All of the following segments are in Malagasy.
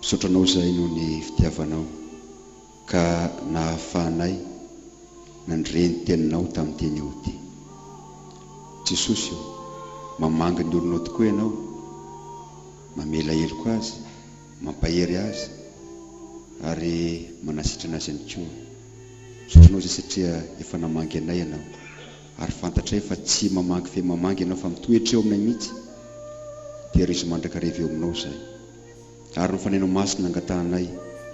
Misaotra anao izahay noho ny fitiavanao ka nahafahanay nandre ny teninao tamin'ny teny ody. Jesosy ô, mamangy ny olonao tokoa ianao, mamela heloka azy, mampahery azy ary manasitrana azy ihany koa. Misaotra anao izay satria efa namangy anay ianao. ary fantatray fa tsy mamaky fe mamangy ianao fa mitoetra eo aminay mihitsy, tehirizo mandrakariva eo aminao izahay ary ny Fanahinao Masina angatahanay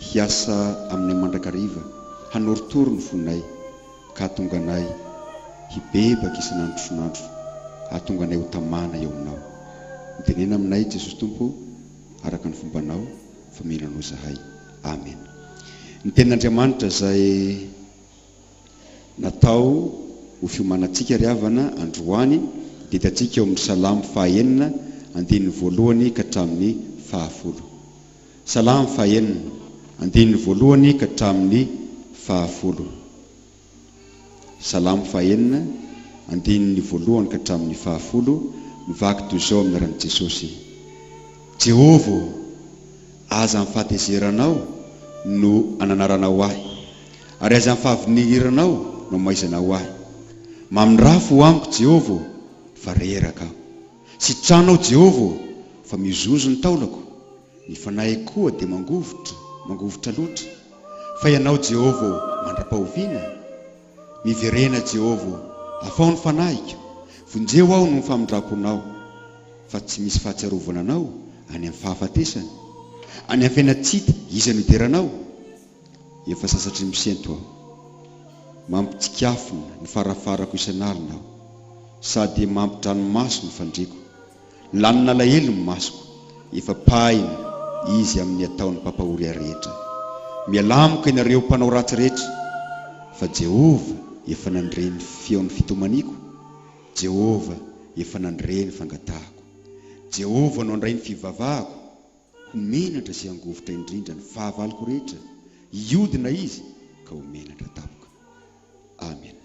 hiasa aminay mandrakariva hanorotoro ny fonay ka hahatonga anay hibebaka isan'andro isan'andro hahatonga anay ho tamana eo aminao mitenena aminay Jesosy Tompo ô araka ny fombanao fa mino anao izahay Amena ny tenin'Andriamanitra izay Natao ho fiomanantsika ry havana androany dia hitantsika eo amin'ny Salamo faha enina andininy voalohany ka hatramin'ny faha folo. Salamo faha enina, andininy voalohany ka hatramin'ny faha folo. Salamo faha enina, andininy voalohany ka hatramin'ny faha folo, mivaky toy izao amin'ny anaran'i Jesosy, Jehovah ô! Aza ny fahatezeranao no ananaranao ahy, ary aza ny fahavinihiranao no amaizanao ahy. Mamindrafo ho amiko, Jehovah ô, fa reraka aho. Sitrano aho, Jehovah ô, fa mihozohozo ny taolako, ny fanahiko koa dia mangovitra, mangovitra loatra. Fa ianao, Jehovah ô, mandra-pahoviana? Miverena Jehovah ô, afaho ny fanahiko, vonjeo aho noho ny famindramponao, fa tsy misy fahatsiarovana anao any amin'ny fahafatesana, any amin'ny fiainana tsy hita iza no hideranao? Efa sasatry ny misento aho, mampitsikafona ny farafarako isan'alina aho, sady mampidranomaso ny fandriako. Lany nalahelo ny masoko, efa pahina Izy amin' ny ataon' ny mpampahoria rehetra. Mialà amiko ianareo mpanao ratsy rehetra, fa Jehovah efa nandre ny feo ny fitomaniako, Jehovah efa nandre ny fangatahako. Jehovah no handray ny fivavahako, ho menatra sy hangovitra indrindra ny fahavaloko rehetra, hiodina Izy ka ho menatra tampoka. Amena.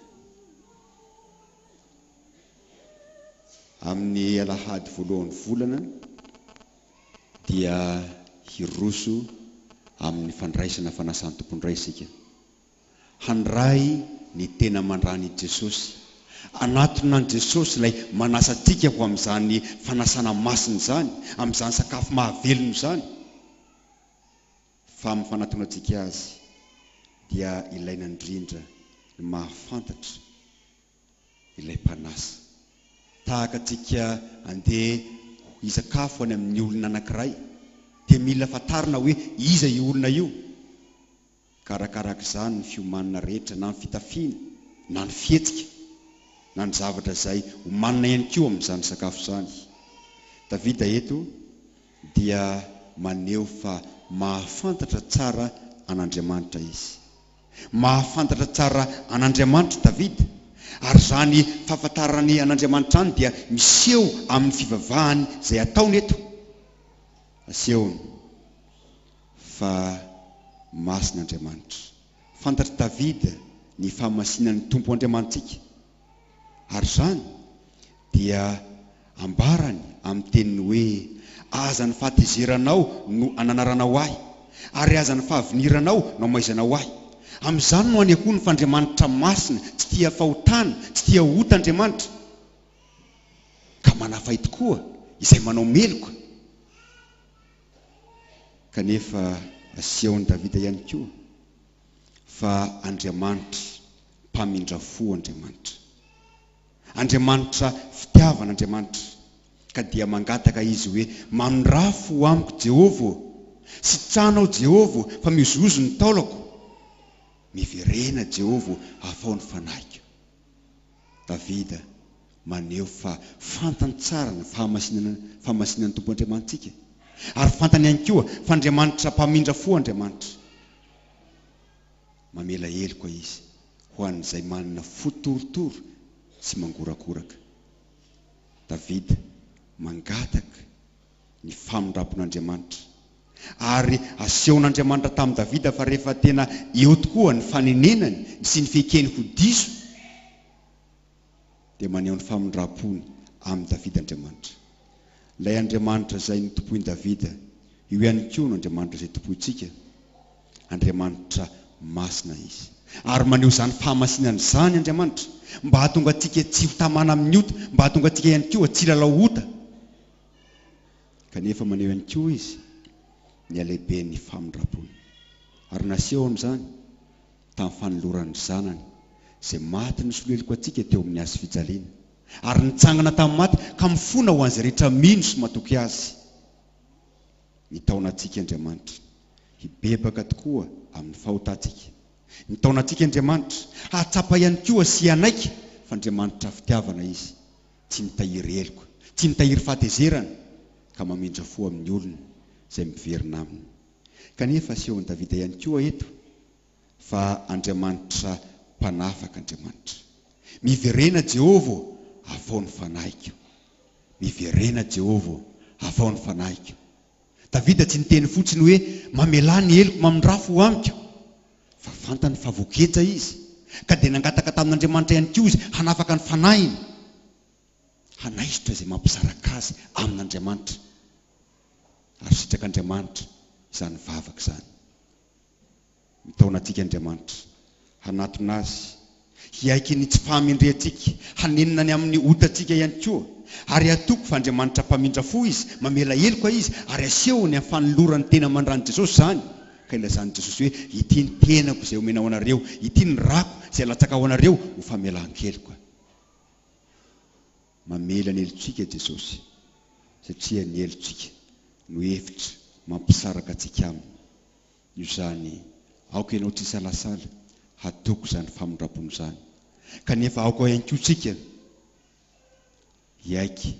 Amin'ny alahady voalohan'ny volana dia hiroso amin'ny fandraisana fanasan'ny Tompondray isika. Handray ny tena aman-drany i Jesosy. Anatona an'i Jesosy Ilay manasa antsika ho amin'izany fanasana masina izany, amin'izany sakafo mahavelona izany. Fa amin'ny fanatonantsika Azy dia ilaina indrindra ny mahafantatra ilay mpanasa. Tahaka antsika andeha hisakafo any amin'ny olona anankiray dia mila fantarina hoe iza io olona io. Karakaraky izany ny fiomanana rehetra na ny fitafiana na ny fihetsika na ny zavatra izay omanina ihany koa amin'izany sakafo izany. Davida eto dia maneho fa mahafantatra tsara an'Andriamanitra izy. Mahafantatra tsara an'Andriamanitra Davida, ary izany fahafantarany an'Andriamanitra izany dia miseho amin'ny fivavahany izay ataony eto. Asehony fa masina Andriamanitra. Fantatr'i Davida ny fahamasinan'ny Tompo Andriamanitsika. Ary izany dia ambarany amin'ny teniny hoe, Aza ny fahatezeranao no ananaranao ahy, ary aza ny fahaviniranao no amaizanao ahy. Amin'izany no anehoany fa Andriamanitra masina, tsy tia fahotana, tsy tia ota Andriamanitra, ka manafay tokoa izay manao meloka. Kanefa asehon'i Davida ihany koa. fa Andriamanitra mpamindra fo Andriamanitra. Andriamanitra fitiavana Andriamanitra ka dia mangataka Izy hoe, Mamindrà fo amiko Jehovah ô! Sitrano aho Jehovah ô, fa mihozihozy ny taolako. Miverena Jehovah ô, afaho ny fanahiko. Davida maneho fa fantany tsara ny fahamasinana fahamasinan'ny Tompo Andriamanitsika, ary fantany ihany koa fa Andriamanitra mpamindra fo Andriamanitra. Mamela heloka izy ho an'izay manana fo torotoro sy mangorakoraka. Davida mangataka ny famindrampon'Andriamanitra, ary asehon'Andriamanitra tamin'i Davida fa rehefa tena eo tokoa ny fanenenany sy ny fekeny ho diso, dia maneho ny famindram-pony amin'i Davida Andriamanitra. Ilay Andriamanitra izay notompoin'i Davida, io ihany koa no Andriamanitra izay tompointsika. Andriamanitra masina izy. Ary maneho izany fahamasinany izany Andriamanitra, mba hahatonga antsika tsy ho tamana amin'ny ota, mba hahatonga antsika ihany koa tsy hilalao ota. Kanefa maneho ihany koa izy ny halehiben'ny famindram-pony. Ary nasehony izany. tamin'ny fanoloran'ny Zanany izay maty nisolo heloka antsika teo amin'ny hazo fijaliana, ary nitsangana tamin'ny maty ka mifona ho an'izay rehetra mino sy matoky Azy. Mitaona antsika Andriamanitra hibebaka tokoa amin'ny fahotantsika. Mitaona antsika Andriamanitra hahatsapa ihany koa sy hanaiky fa Andriamanitra fitiavana Izy, tsy mitahiry heloka, tsy mitahiry fahatezerana, ka mamindra fo amin'ny olona izay miverina Aminy. Kanefa asehon'i Davida ihany koa eto fa Andriamanitra mpanafaka Andriamanitra. Miverena Jehovah ô, afaho ny fanahiko. Miverena Jehovah ô, afaho ny fanahiko. Davida tsy niteny fotsiny hoe mamelà ny heloko mamindrafo ho amiko, fa fantany fa voageja izy, ka dia nangataka tamin'Andriamanitra ihany koa izy hanafaka ny fanahiny, hanaisotra izay mampisaraka azy amin'Andriamanitra. ary sitrak'Andriamanitra izany vavaka izany. Mitaona antsika Andriamanitra hanatona Azy, hiaiky ny tsy fahamendrehantsika, hanenina ny amin'ny otantsika ihany koa. Ary hatoky fa Andriamanitra mpamindra fo Izy, mamela heloka Izy, ary asehony amin'ny fanolorany tena mandran'i Jesosy izany, ka ilazan'i Jesosy hoe, Ity ny tenako izay omena ho anareo, ity ny rako izay alatsaka ho anareo ho famelan-keloka. Mamela ny helotsika Jesosy, satria ny helotsika no hevitra mampisaraka antsika Aminy. Noho izany, aoka ianao tsy hisalasala hatoky izany famindram-pony izany, kanefa aoka ihany koa isika hiaiky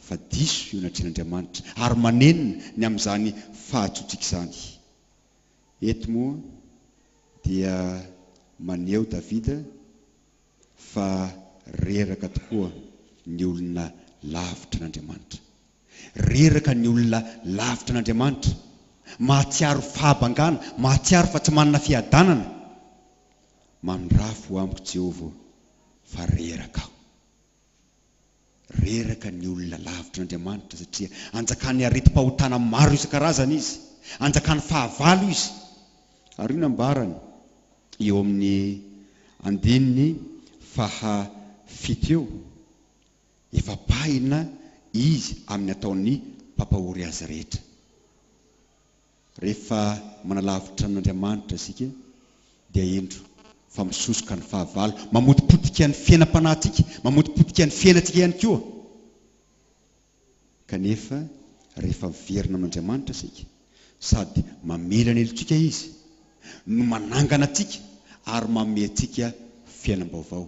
fa diso eo anatrehan' Andriamanitra ary manenina ny amin' izany fahatsoantsika izany. Eto moa dia maneho Davida. fa reraka tokoa ny olona lavitra an'Andriamanitra. Reraka ny olona lavitra an'Andriamanitra, mahatsiaro fahabangana, mahatsiaro fa tsy manana fiadanana. Mandrafo amiko Jehovah ô, fa reraka aho. Reraka ny olona lavitra Andriamanitra satria anjakan'ny aretim-pahotana maro isan-karazany izy, anjakan'ny fahavalo izy. Ary io nambarany eo amin'ny andininy faha fito eo, efa pahina izy amin'ny ataon'ny mpampahory azy rehetra. Rehefa manalavitra an'Andriamanitra isika dia hendro fa misosoka ny fahavalo, mamotipotika ny fiainam-panahintsika, mamotipotika ny fiainantsika ihany koa. Kanefa rehefa miverina amin'Andriamanitra isika sady mamela ny helotsika Izy no manangana antsika ary manome antsika fiainam-baovao.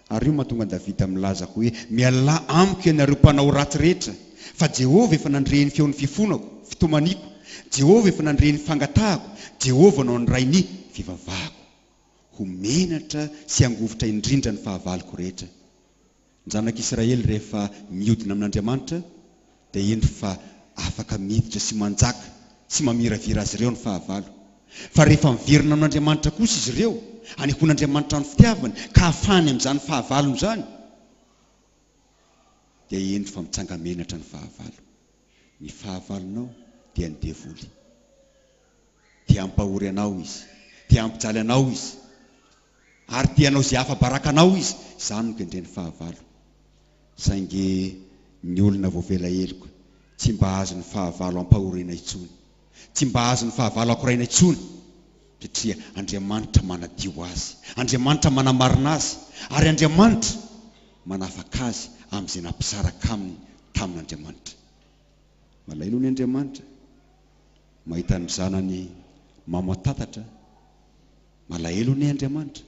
Ary io mahatonga Davida milaza hoe, Mialà amiko ianareo mpanao ratsy rehetra, fa Jehovah efa nandre ny feon'ny fifonako, fitomaniako, Jehovah efa nandre ny fangatahako, Jehovah no handray ny fivavahako. Ho menatra sy hangovitra indrindra ny fahavaloko rehetra. Ny zanak'Israely rehefa miodina amin'Andriamanitra, dia indro fa afaka miditra sy manjaka tsy mamiravira azy ireo ny fahavalo. Fa rehefa miverina amin'Andriamanitra kosa izy ireo, anehoan'Andriamanitra ny fitiavany ka afahany amin'izany fahavalony izany, dia indro fa mitsanga-menatra ny fahavalo. Ny fahavalonao dia ny devoly. Te hampahory anao izy, te hampijaly anao izy. Ary te hanao izay afa-baraka anao izy, izany no kendreny fahavalo. Saingy ny olona voavela heloka tsy mba hahazo ny fahavalo ampahoriana intsony, tsy mba hahazo ny fahavalo akoraina intsony, satria Andriamanitra manadio azy, Andriamanitra manamarina azy, ary Andriamanitra manafaka azy amin'izay nampisaraka aminy tamin'Andriamanitra. Malaelo ny Andriamanitra mahita ny zanany mamantatatra. Malahelo anie Andriamanitra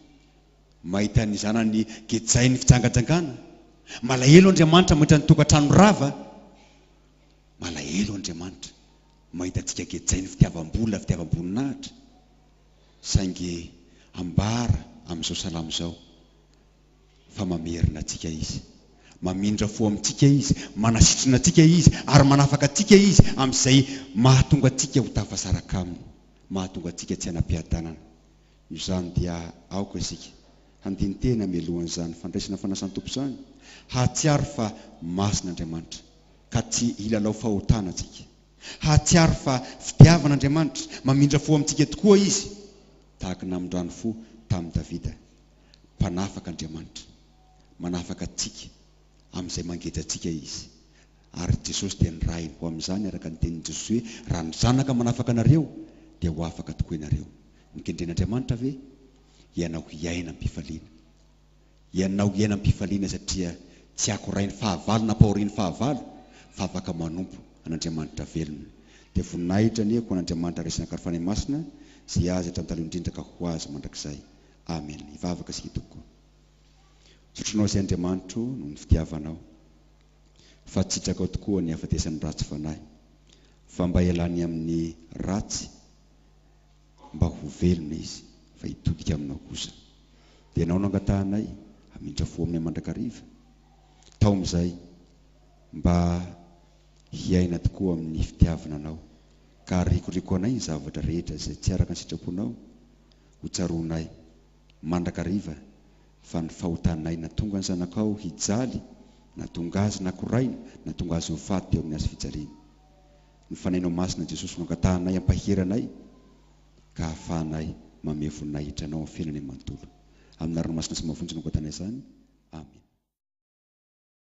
mahita ny zanany gejain'ny fijangajangana, malahelo Andriamanitra mahita ny tokantrano rava, malahelo Andriamanitra mahita antsika gejain'ny fitiavam-bola, fitiavam-boninahitra, saingy ambara amin'izao salamo izao. fa mamerina antsika Izy. Mamindra fo amintsika Izy, manasitrana antsika Izy, ary manafaka antsika Izy amin'izay mahatonga antsika ho tafasaraka Aminy, mahatonga antsika tsy hanam-piadanana. Noho izany dia aoka isika handini-tena mialohan'izany fandraisana fanasan'ny Tompo izany, hahatsiaro fa masina Andriamanitra, ka tsy hilalao fahotana antsika, hahatsiaro fa fitiavana Andriamanitra, mamindra fo amintsika tokoa Izy, tahaka ny namindrany fo tamin'i Davida. Mpanafaka Andriamanitra. Manafaka antsika amin'izay mangeja antsika Izy. Ary Jesosy dia nirahiny ho amin'izany araka ny tenin'i Jesosy hoe, Raha ny Zanaka manafaka anareo, dia ho afaka tokoa ianareo. Nokendren'Andriamanitra ve hianao hiaina am-pifaliana? Hianao hiaina am-pifaliana satria tsy akorain'ny fahavalo na ampahorin'ny fahavalo, fa afaka manompo an'Andriamanitra velona. Dia voninahitra anie ho an'Andriamanitra Resy Nankany Fanahy Masina, izay Azy hatrany taloha indrindra ka ho Azy mandrakizay. Amen hivavaka isika tompoko zotronao sy Andriamanitro noho ny fitiavanao fa tsitrakao tokoa ny hafatesan'ny ratsy fanahy fa mba elany amin'ny ratsy mba ho velona izy fa hitodika aminao kosa dia anao no angatahanay hamindra fo aminay mandrakariva taom'izay mba hiaina tokoa amin'ny fitiavana anao ka arikoriko anay ny zavatra rehetra izay tsy araka ny sitraponao Hotsaroanay, mandrakariva, fa ny fahotanay na tonga ny zanakao hijaly, na tonga azy na koraina, na tonga azy ho faty teo amin'ny hazo fijaliana. Ny Fanahinao Masina Jesosy no angatahanay hampahery anay ka hahafahanay mamehy voninahitra Anao amin'ny fiainanay manontolo. Amin'ny anarana masina sy mafonja no angatanay izany. Amena.